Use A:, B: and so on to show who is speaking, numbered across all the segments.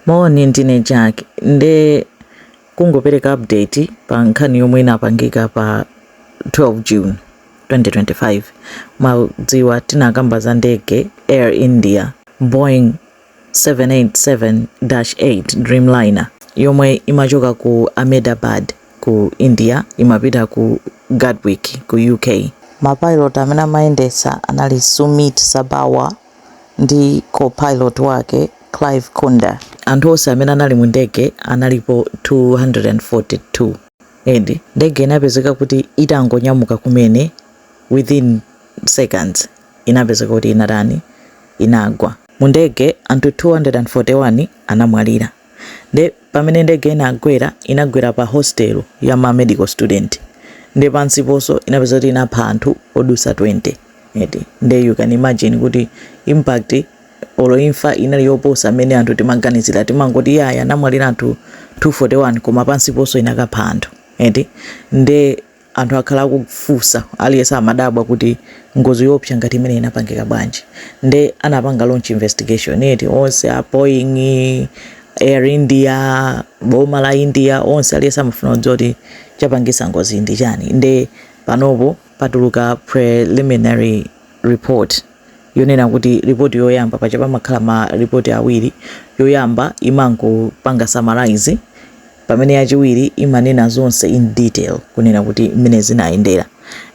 A: Moni ndine Jack nde kungopereka update pa nkhani yomwe inapangika pa 12 June 2025 mwadziwa tinakamba za ndege Air India Boeing 787-8 Dreamliner yomwe imachoka ku Ahmedabad ku India imapita ku Gatwick ku UK. Ma pilot amene amayendetsa anali Sumeet Sabharwal. ndi co-pilot wake Clive Kunder. Anthu onse amene anali mu ndege analipo 242 eti. Ndege inapezeka kuti itangonyamuka kumene within seconds inapezeka kuti inatani, inagwa. Mu ndege anthu 241 anamwalira. Nde pamene ndege inagwera inagwera pa hostel ya ma medical student nde pansiponso inapezeka kuti inapha anthu odusa 20 eti nde you can imagine kuti impact olo imfa inali yoposa mmene anthu timaganizira timangoti yaya anamwalira anthu 241 koma pansiponso inakapha anthu eti nde Anthu akhala akufusa aliyense amadabwa kuti ngozi yoopsa ngati imeneyi inapangika bwanji nde anapanga launch investigation eti onse a Boeing, Air India, boma la India onse aliyense amafuna kudziwa kuti chapangisa ngozi yi ndi chani nde panopo patuluka preliminary report yonena kuti report yoyamba paja pamakhala ma report awiri yoyamba imangopanga summarise pamene yachiwiri imanena zonse in detail kunena kuti mmene zinayendera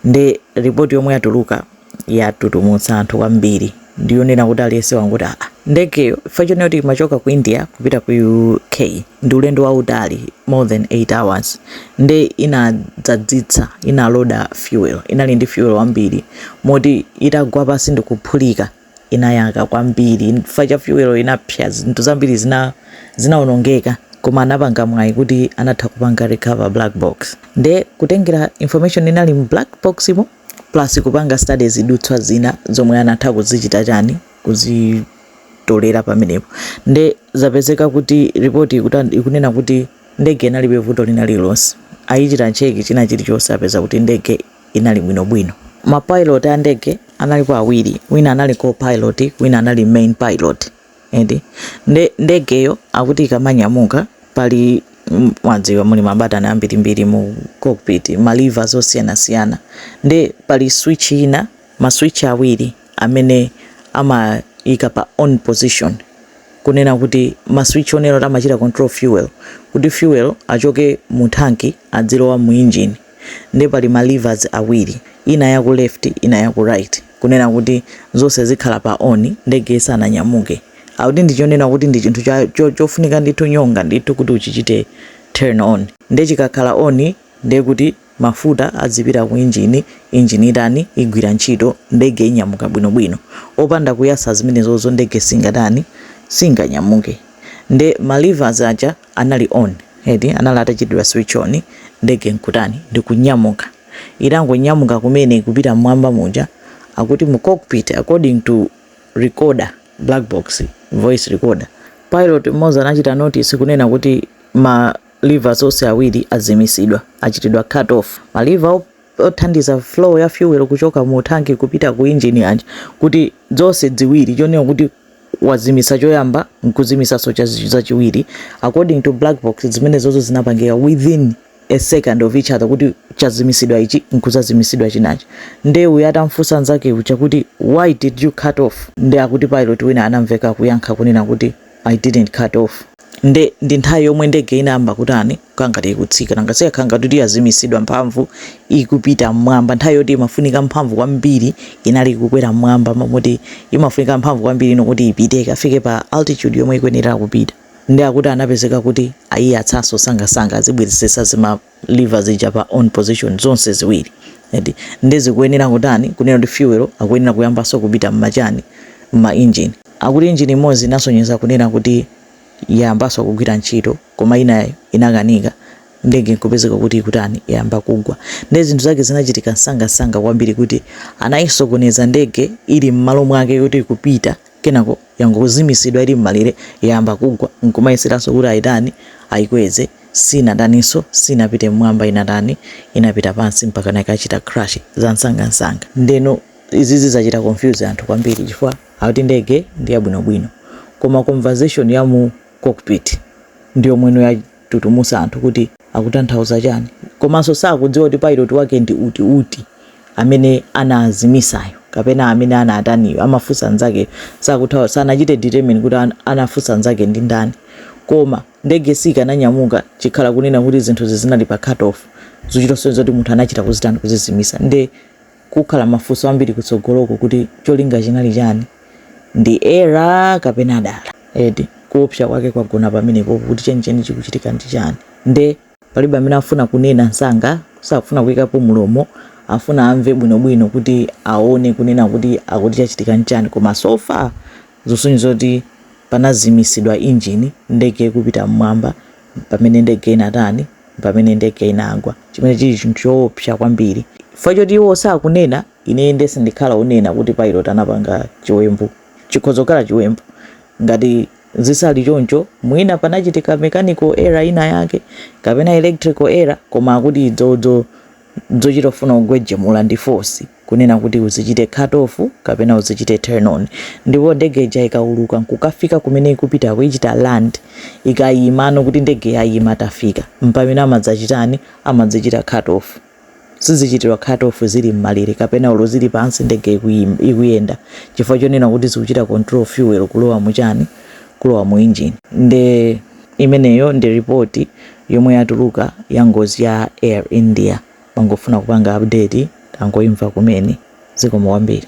A: nde report yomwe yatuluka yatutumutsa anthu kwambiri ndiyonena kuti aliyense wangoti aa ndegeyo chifukwa chonena kuti imachoka ku india kupita ku uk ndi ulendo wautali more than 8 hours nde inadzadzitsa inaloda fuel inali ndi fuel wambiri moti itagwa pasi ndikuphulika inayaka kwambiri chifukwa cha fuel inapsa zinthu zambiri zinaonongeka koma anapanga mwayi kuti anatha kupanga recover black box nde kutengera information inali mu black box mo plus kupanga study zidutswa zina zomwe anatha kuzichita chani kuzitolera pamenepo nde zapezeka kuti report ikunena kuti ndege inalibe vuto lina lililonse ayichita cheki china chilichonse apeza kuti ndege inali bwinobwino. Ma pilot a ndege analipo awiri, wina anali co-pilot wina anali main pilot eti nde ndegeyo akuti ikamanyamuka pali mwadziwa muli mabatani ambirimbiri mu cockpit ma levers osiyanasiyana nde pali switch ina ma switch awiri amene amayika pa on position kunena kuti ma switch onena kuti amachita control fuel kuti fuel achoke mu thanki adzilowa mu engine Nde pali ma levers awiri ina yaku left ina yaku right kunena kuti zonse zikhala pa on ndege isananyamuke. Akuti ndi chonena kuti ndi chinthu cha cho chofunika ndithu nyonga ndithu kuti uchichite turn on. Nde chikakhala on nde kuti mafuta adzipita ku engine, itani, igwira ntchito, ndege inyamuka bwino bwino. Opanda kuyatsa zimenezozo ndege singatani, singanyamuke. Nde ma levers aja. anali on eti anali atachitidwa switch on ndege nkutani ndikunyamuka itangonyamuka kumene ikupita mmwamba muja akuti mu cockpit according to recorder black box voice recorder pilot mmodzi anachita notice kunena kuti ma levers onse awiri azimisidwa achitidwa cut off ma lever othandiza flow ya fuel kuchoka mu thanki kupita ku engine uja kuti zonse ziwiri chonena kuti wazimisa choyamba nkuzimisanso chachiwiri according to black box zimenezozo zinapangika within a second of each other kuti chazimisidwa ichi nkuzazimisidwa chinachi nde uyu atamfunsa nzake uja kuti why did you cut off nde akuti pilot wina anamveka kuyankha kunena kuti i didn't cut off nde ndi nthawi yomwe ndege inayamba kutani kukhala ngati ikutsika. Nanga sikakhala ngati kuti yazimisidwa mphamvu ikupita m'mwamba. Nthawi yoti imafunika mphamvu kwambiri inali ikukwera m'mwamba mo- moti imafunika mphamvu kwambiri ino kuti ipite ikafike pa altitude yomwe ikuyenera kupita. Ndiye akuti anapezeka kuti ayiyatsanso nsangansanga azibwezeretsa zi ma lever zija pa on position zonse ziwiri eti. Ndiye zikuyenera kutani kunena kuti fuel akuyenera kuyambanso kupita m'ma chani m'ma engine. Akuti engine imodzi inasonyeza kunena kuti yayambanso kugwira ntchito. koma inayo inakanika ndege nkupezeka kuti ikutani yayamba kugwa ndiye zinthu zake zinachitika nsangansanga kwambiri kuti anayisokoneza ndege ili m'malo mwake yoti ikupita kenako yangozimisidwa ili m'malere yayamba kugwa nkumayeseranso kuti ayitani ayikweze sinataninso sinapite mmwamba inatani inapita pansi mpaka nakachita crash za nsangansanga ndeno izizi zachita confuse anthu kwambiri chifukwa akuti ndege ndi yabwinobwino koma conversation ya mu cockpit ndi yomweno yatutumusa anthu kuti akutanthauza chani komanso sakudziwa kuti pilot wake ndi uti uti amene anazimisayo kapena amene anataniyo amafunsa nzakeyo sakutha sanachite determine kuti an, anafunsa nzake ndi ndani koma ndege sikananyamuka chikhala kunena kuti zinthuzi zinali pa cut off zochita kusonza zoti munthu anachita kuzitani kuzizimisa nde kukhala mafunso ambiri kutsogoloku kuti cholinga chinali chani, ndi error kapena dala eti kuopsa kwake kwagona pamenepopo kuti chenicheni chikuchitika ndi chani nde palibe amene afuna kunena nsanga safuna kuikapo mlomo afuna amve bwinobwino kuti aone kunena kuti akuti chachitika nchani koma so far zikusonyeza zoti panazimisidwa engine ndege ikupita mmwamba pamene ndege inatani, pamene ndege inagwa, chimene chiri chinthu chowopsya kwambiri. Chifukwa choti iwo sakunena, ine, inde sindikhala onena kuti pilot anapanga chiwembu. Chikhoza kukhala chiwembu. Ngati sizili choncho, mwina panachitika mechanical error inayake, kapena electrical error, koma akuti idzo, dzo, dzochita kufuna kugwejumula ndi force. kunena kuti uzichite cut off kapena uzichite turn on ndipo ndege ija ikauluka nkukafika kumene ikupitako ikachita land ikayimano kuti ndege yayima tafika mpamene amadzachitani amadzichita cut off sizichitirwa cut off zili m'malere kapena olo zili pansi ndege ikuyim, ikuyenda chifukwa chonena kuti zikuchita control fuel kulowa mu chani kulowa mu engine nde imeneyo ndi report yomwe yatuluka ya ngozi ya air india Ndimangofuna kupanga update tangoimva kumene. Zikomo kwambiri.